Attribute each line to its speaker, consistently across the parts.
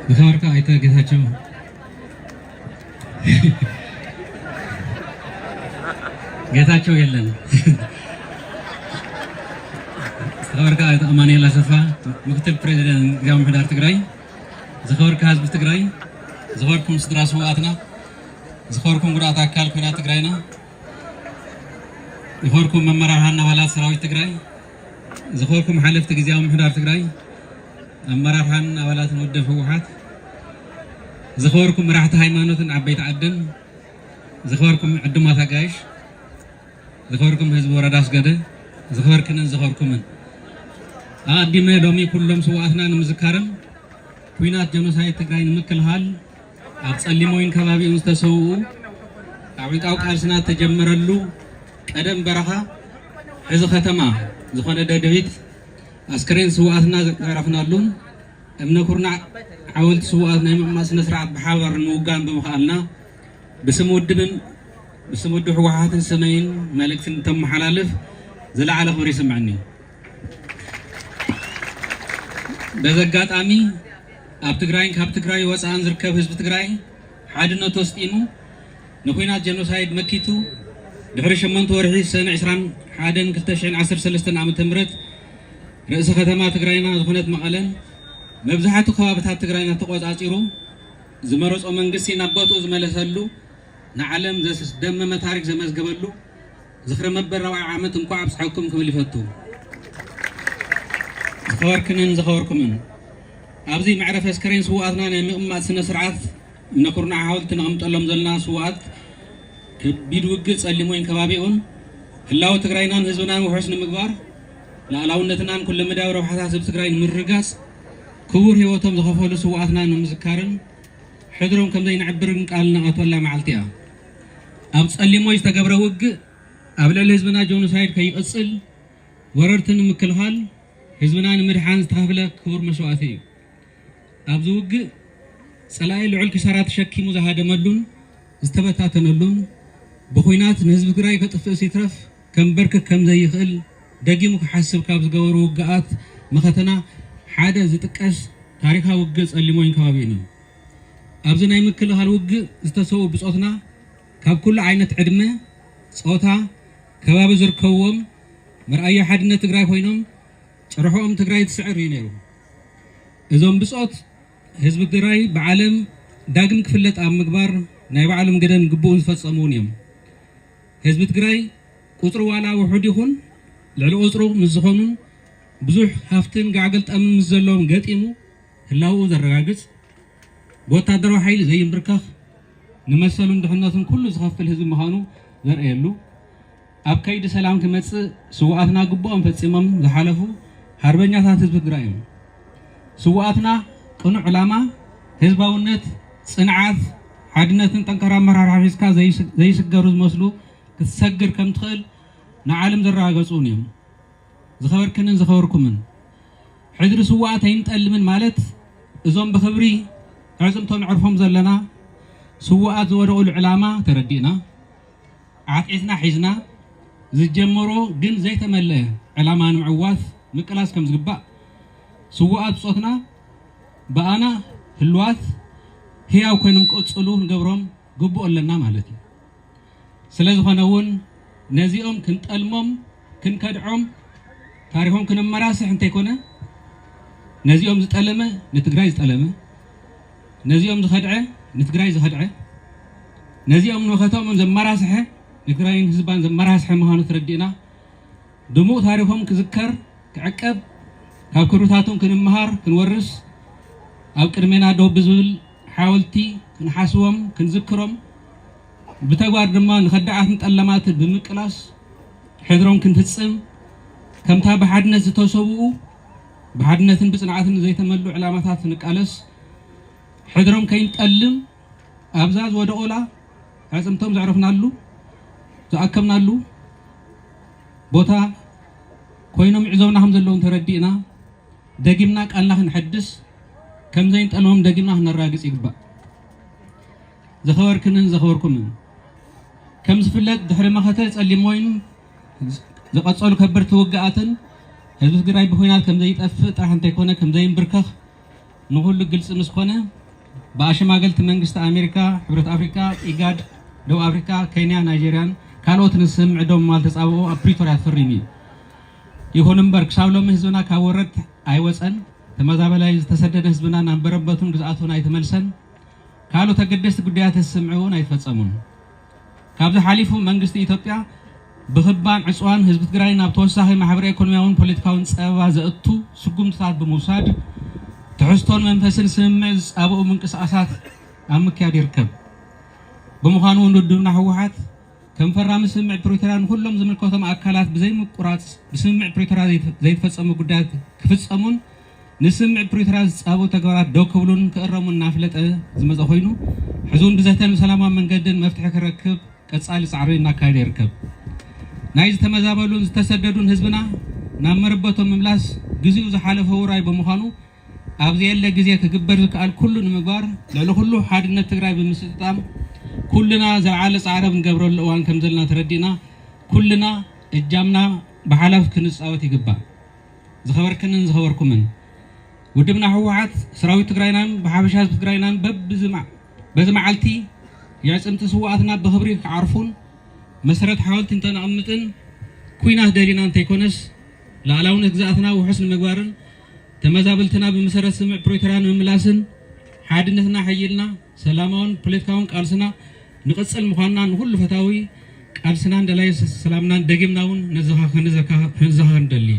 Speaker 1: ዝኸበርካ ኣይተ ጌታቸው ጌታቸው የለን ዝኸበርካ ኣይተ ኣማኑኤል ኣሰፋ ምክትል ፕሬዚደንት ጊዜያዊ ምሕዳር ትግራይ ዝኸበርካ ህዝቢ ትግራይ ዝኸበርኩም ስድራ ስውኣትና ዝኸበርኩም ጉዳት ኣካል ኩናት ትግራይና ዝኸበርኩም መመራርሃን ኣባላት ሰራዊት ትግራይ ዝኸበርኩም ሓለፍቲ ጊዜያዊ ምሕዳር ትግራይ ኣመራርሓን ኣባላትን ውድብ ህወሓት፣ ዝኸበርኩም መራሕቲ ሃይማኖትን ዓበይቲ ዓድን፣ ዝኸበርኩም ዕዱማት ኣጋይሽ፣ ዝኸበርኩም ህዝቢ ወረዳ ኣስገደ፣ ዝኸበርክንን ዝኸበርኩምን ኣቐዲመ ሎሚ ኩሎም ስዋኣትና ንምዝካርን ኩናት ጀኖሳይድ ትግራይ ንምክልኻል ኣብ ፀሊሞይን ከባቢኡን ዝተሰውኡ ካብ ዕንቃው ቃልስና ተጀመረሉ ቀደም በረኻ ሕዚ ከተማ ዝኾነ ደደቢት ኣስከሬን ስውኣትና ዘዕረፍናሉን እምነ ኩርናዕ ሓወልቲ ስውኣት ናይ ምቕማጥ ስነ ስርዓት ብሓባር ንምውጋን ብምኽኣልና ብስም ውድብን ብስም ውድብ ህወሓትን ስመይን መልእክቲ እንተመሓላልፍ ዝለዓለ ክብሪ ይስምዐኒ። በዚ ኣጋጣሚ ኣብ ትግራይን ካብ ትግራይ ወፃእን ዝርከብ ህዝቢ ትግራይ ሓድነቱ ኣስጢሙ ንኩናት ጀኖሳይድ መኪቱ ድሕሪ ሸሞንተ ወርሒ ሰነ ዕስራን ሓደን ክልተ ሽሕን ዓሰርተ ሰለስተን ዓመተ ምህረት ርእሰ ከተማ ትግራይና ዝኾነት መቐለን መብዛሕቱ ከባብታት ትግራይና ተቆፃፂሩ ዝመረፆ መንግስቲ ናብ ቦትኡ ዝመለሰሉ ንዓለም ዘስደመመ ታሪክ ዘመዝገበሉ ዝኽሪ መበል ራብዓይ ዓመት እንኳዕ ኣብፀሐኩም ክብል ይፈቱ። ዝኸበርክንን ዝኸበርኩምን ኣብዚ መዕረፊ ኣስከሬን ስውኣትና ናይ ምቕማጥ ስነ ስርዓት እምነ ኩርናዕ ሓወልቲ ነቐምጠሎም ዘለና ስውኣት ከቢድ ውግእ ፀሊሞይን ከባቢኡን ህላወ ትግራይናን ህዝብናን ውሑስ ንምግባር ላእላውነትናን ኩለመዳያዊ ረብሓታት ህዝቢ ትግራይ ንምርግጋፅ ክቡር ህይወቶም ዝኸፈሉ ስውኣትና ንምዝካርን ሕድሮም ከምዘይንዕብርን ቃል ነኣትወላ መዓልቲ እያ። ኣብ ጸሊሞ ዝተገብረ ውግእ ኣብ ልዕሊ ህዝብና ጆኖሳይድ ከይቕጽል ወረርቲ ንምክልኻል ህዝብና ንምድሓን ዝተኸፍለ ክቡር መስዋእቲ እዩ። ኣብዚ ውግእ ጸላኢ ልዑል ክሳራ ተሸኪሙ ዝሃደመሉን ዝተበታተነሉን ብኩናት ንህዝቢ ትግራይ ከጥፍእስ ይትረፍ ከምበርክክ ከም ዘይኽእል ደጊሙ ክሓስብ ካብ ዝገበሩ ውግኣት መኸተና ሓደ ዝጥቀስ ታሪካዊ ውግእ ጸሊሞይን ከባቢኡን እዩ። ኣብዚ ናይ ምክልኻል ውግእ ዝተሰዉ ብጾትና ካብ ኩሉ ዓይነት ዕድመ፣ ጾታ፣ ከባቢ ዝርከብዎም መርኣዮ ሓድነት ትግራይ ኮይኖም ጭርሖኦም ትግራይ ትስዕር እዩ ነይሩ። እዞም ብጾት ህዝቢ ትግራይ ብዓለም ዳግም ክፍለጥ ኣብ ምግባር ናይ ባዕሎም ግደን ግቡእን ዝፈጸሙ እውን እዮም። ህዝቢ ትግራይ ቁጽሩ ዋላ ውሑድ ይኹን ልዕሊ ቁጽሩ ምስ ዝኾኑን ብዙሕ ሃፍትን ጋዕገልጠምን ምስ ዘለዎም ገጢሙ ህላውኡ ዘረጋግጽ፣ ብወታደራዊ ሓይሊ ዘይምብርከኽ፣ ንመሰሉን ድሕነቱን ኩሉ ዝኸፍል ህዝቢ ምዃኑ ዘርእየሉ፣ ኣብ ከይዲ ሰላም ክመጽእ ስውኣትና ግቡኦም ፈጺሞም ዝሓለፉ ሓርበኛታት ህዝቢ ትግራይ እዮም። ስውኣትና ቅኑዕ ዕላማ፣ ህዝባውነት፣ ጽንዓት፣ ሓድነትን ጠንካራ ኣመራርሓ ሒዝካ ዘይስገሩ ዝመስሉ ክትሰግር ከምትኽእል ንዓለም ዘረጋገጹ እውን እዮም። ዝኸበርክንን ዝኸበርኩምን፣ ሕድሪ ስዉኣት ኣይንጠልምን ማለት እዞም ብኽብሪ ኣዕጽምቶም ነዕርፎም ዘለና ስዉኣት ዝወደቑሉ ዕላማ ተረዲእና፣ ዓትዒትና ሒዝና ዝጀመሮ ግን ዘይተመልአ ዕላማ ንምዕዋት ምቅላስ ከም ዝግባእ ስዉኣት ብጾትና ብኣና ህሉዋት ህያው ኮይኖም ክቕጽሉ ክንገብሮም ግቡእ ኣለና ማለት እዩ። ስለዝኾነ እውን ነዚኦም ክንጠልሞም ክንከድዖም ታሪኾም ክነመራስሕ እንተይኮነ ነዚኦም ዝጠለመ ንትግራይ ዝጠለመ ነዚኦም ዝኸድዐ ንትግራይ ዝኸድዐ ነዚኦም ንመኸተኦምን ዘመራስሐ ንትግራይን ህዝባን ዘመራስሐ ምዃኑ ተረዲእና ድሙቕ ታሪኾም ክዝከር ክዕቀብ ካብ ክብርታቶም ክንመሃር ክንወርስ ኣብ ቅድሜና ደው ብዝብል ሓወልቲ ክንሓስቦም ክንዝክሮም ብተግባር ድማ ንኸዳዓትን ጠለማትን ብምቅላስ ሕድሮም ክንፍጽም ከምታ ብሓድነት ዝተሰብኡ ብሓድነትን ብጽንዓትን ዘይተመሉ ዕላማታት ንቃለስ ሕድሮም ከይንጠልም ኣብዛ ዝወደቑላ ኣዕጽምቶም ዘዕረፍናሉ ዝኣከብናሉ ቦታ ኮይኖም ይዕዘቡና ከም ዘለዉ ተረዲእና ደጊምና ቃልና ክንሕድስ ከም ዘይንጠልሞም ደጊምና ክነራግጽ ይግባእ። ዝኸበርክንን ዘኸበርኩምን፣ ከም ዝፍለጥ ድሕሪ መኸተ ጸሊም ወይን ዝቐጸሉ ከበድቲ ውግኣትን ህዝቢ ትግራይ ብኹናት ከም ዘይጠፍእ ጥራሕ እንተይኮነ ከም ዘይንብርከኽ ንኹሉ ግልጺ ምስ ኮነ ብኣሸማገልቲ መንግስቲ ኣሜሪካ፣ ሕብረት ኣፍሪቃ፣ ኢጋድ፣ ደቡብ ኣፍሪቃ፣ ኬንያ፣ ናይጀርያን ካልኦትን ዝስምዕ ደው ምባል ተጻብኦ ኣብ ፕሪቶርያ ተፈሪሙ እዩ። ይኹን እምበር ክሳብ ሎሚ ህዝብና ካብ ወረርቲ ኣይወፀን፣ ተመዛበላይ ዝተሰደደ ህዝብና ናብ መረበቱን ግዝኣቱን ኣይተመልሰን፣ ካልኦት ኣገደስቲ ጉዳያት ህዝቢ ስምዒ እውን ኣይተፈፀሙን። ካብዚ ሓሊፉ መንግስቲ ኢትዮጵያ ብክባን ዕፅዋን ህዝቢ ትግራይ ናብ ተወሳኺ ማሕበረ ኢኮኖሚያውን ፖለቲካውን ፀበባ ዘእቱ ስጉምትታት ብምውሳድ ትሕዝቶን መንፈስን ስምምዕ ዝፃብኡ ምንቅስቓሳት ኣብ ምክያድ ይርከብ። ብምዃኑ እውን ውድብና ህወሓት ከም ፈራሚ ስምምዕ ፕሪቶርያ ንኹሎም ዝምልከቶም ኣካላት ብዘይምቁራፅ ብስምምዕ ፕሪቶርያ ዘይተፈፀሙ ጉዳያት ክፍፀሙን ንስምምዕ ፕሪቶርያ ዝፃበቡ ተግባራት ደው ክብሉን ክእረሙን እናፍለጠ ዝመፀ ኮይኑ ሕዚ እውን ብዘተን ሰላማዊ መንገድን መፍትሒ ክረክብ ቀፃሊ ፃዕሪ እናካየደ ይርከብ። ናይ ዝተመዛበሉን ዝተሰደዱን ህዝብና ናብ መረበቶም ምምላስ ግዚኡ ዝሓለፈ ውራይ ብምዃኑ ኣብ ዘየለ ግዜ ክግበር ዝከኣል ኩሉ ንምግባር ልዕሊ ኩሉ ሓድነት ትግራይ ብምስጥጣም ኩልና ዘልዓለ ፃዕረ ብንገብረሉ እዋን ከምዘለና ተረዲእና ኩልና እጃምና ብሓላፍ ክንፃወት ይግባእ። ዝኸበርክንን ዝኸበርኩምን ውድብና ህወሓት ሰራዊት ትግራይናን ብሓፈሻ ህዝቢ ትግራይናን በዚ መዓልቲ የዕፅምቲ ስውኣትና ብኽብሪ ክዓርፉን መሰረት ሓወልቲ እንተነቕምጥን ኩናት ደሊና እንተይኮነስ ልኣላውነት ግዝኣትና ውሑስ ንምግባርን ተመዛበልትና ብመሰረት ስምምዕ ፕሪቶርያ ንምምላስን ሓድነትና ኣሐይልና ሰላማውን ፖለቲካውን ቃልስና ንቕፅል ምዃንና ንኹሉ ፈታዊ ቃልስናን ደላይ ሰላምናን ደጊምና እውን ክንዘኻኸር ንደሊ።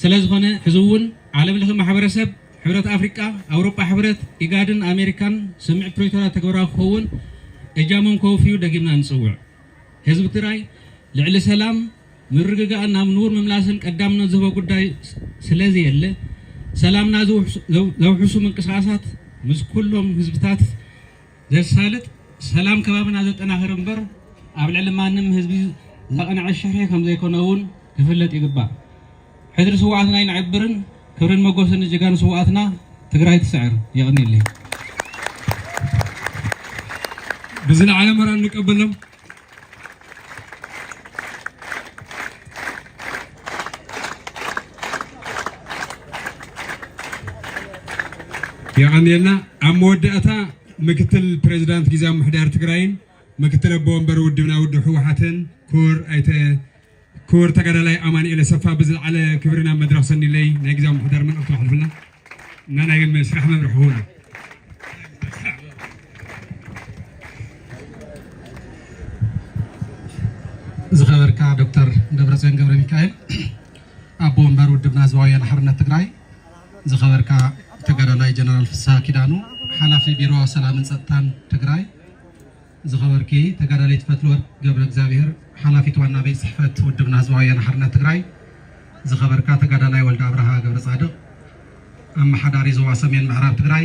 Speaker 1: ስለዝኾነ ሕዚ እውን ዓለም ለኸ ማሕበረሰብ ሕብረት ኣፍሪቃ፣ ኣውሮጳ ሕብረት፣ ኢጋድን ኣሜሪካን ስምምዕ ፕሪቶርያ ተግባራዊ ክኸውን እጃሞም ከውፍዩ ደጊምና ንፅውዕ። ህዝቢ ትግራይ ልዕሊ ሰላም ምርግጋእን ናብ ንቡር ምምላስን ቀዳምነት ዝህቦ ጉዳይ ስለዘየለ፣ ሰላምና ዘውሕሱ ምንቅስቓሳት ምስ ኩሎም ህዝብታት ዘሳልጥ፣ ሰላም ከባብና ዘጠናኽር እምበር ኣብ ልዕሊ ማንም ህዝቢ ዘቕንዐ ሽርሒ ከምዘይኮነ እውን ክፍለጥ ይግባእ። ሕድሪ ስውኣትና ይንዕብርን ክብርን መጎስን ንጀጋኑ ስውኣትና! ትግራይ ትስዕር! የቕንየለይ። ብዝለዓለ መረን ንቀበሎም። የቐንየልና ኣብ መወዳእታ ምክትል ፕሬዚዳንት ጊዜያዊ ምሕዳር ትግራይን ምክትል ኣቦ ወንበር ውድብና ውድብ ህወሓትን ክቡር ኣይተ ክቡር ተጋዳላይ ኣማኒኤል ኣሰፋ ብዝለዓለ ክብሪ ናብ መድረኽ ሰኒለይ ናይ ግዜያዊ ምምሕዳር መልእኽቱ ኣሕልፍልና እና ናይ ስራሕ መምርሒ ክህሉ ዝኸበርካ ዶክተር ደብረፅዮን ገብረ ሚካኤል ኣቦ ወንበር ውድብና ህዝባዊ ወያነ ሓርነት ትግራይ፣ ዝኸበርካ ተጋዳላይ ጀነራል ፍስሃ ኪዳኑ ሓላፊ ቢሮ ሰላምን ፀጥታን ትግራይ ዝኸበርኪ ተጋዳሊት ፈትልወርቅ ገብረእግዚኣብሄር ሓላፊት ዋና ቤት ፅሕፈት ውድብና ህዝባዊ ወያነ ሓርነት ትግራይ፣ ዝኸበርካ ተጋዳላይ ወልደኣብርሃ ገብረፃድቕ ኣመሓዳሪ ዞባ ሰሜን ምዕራብ ትግራይ፣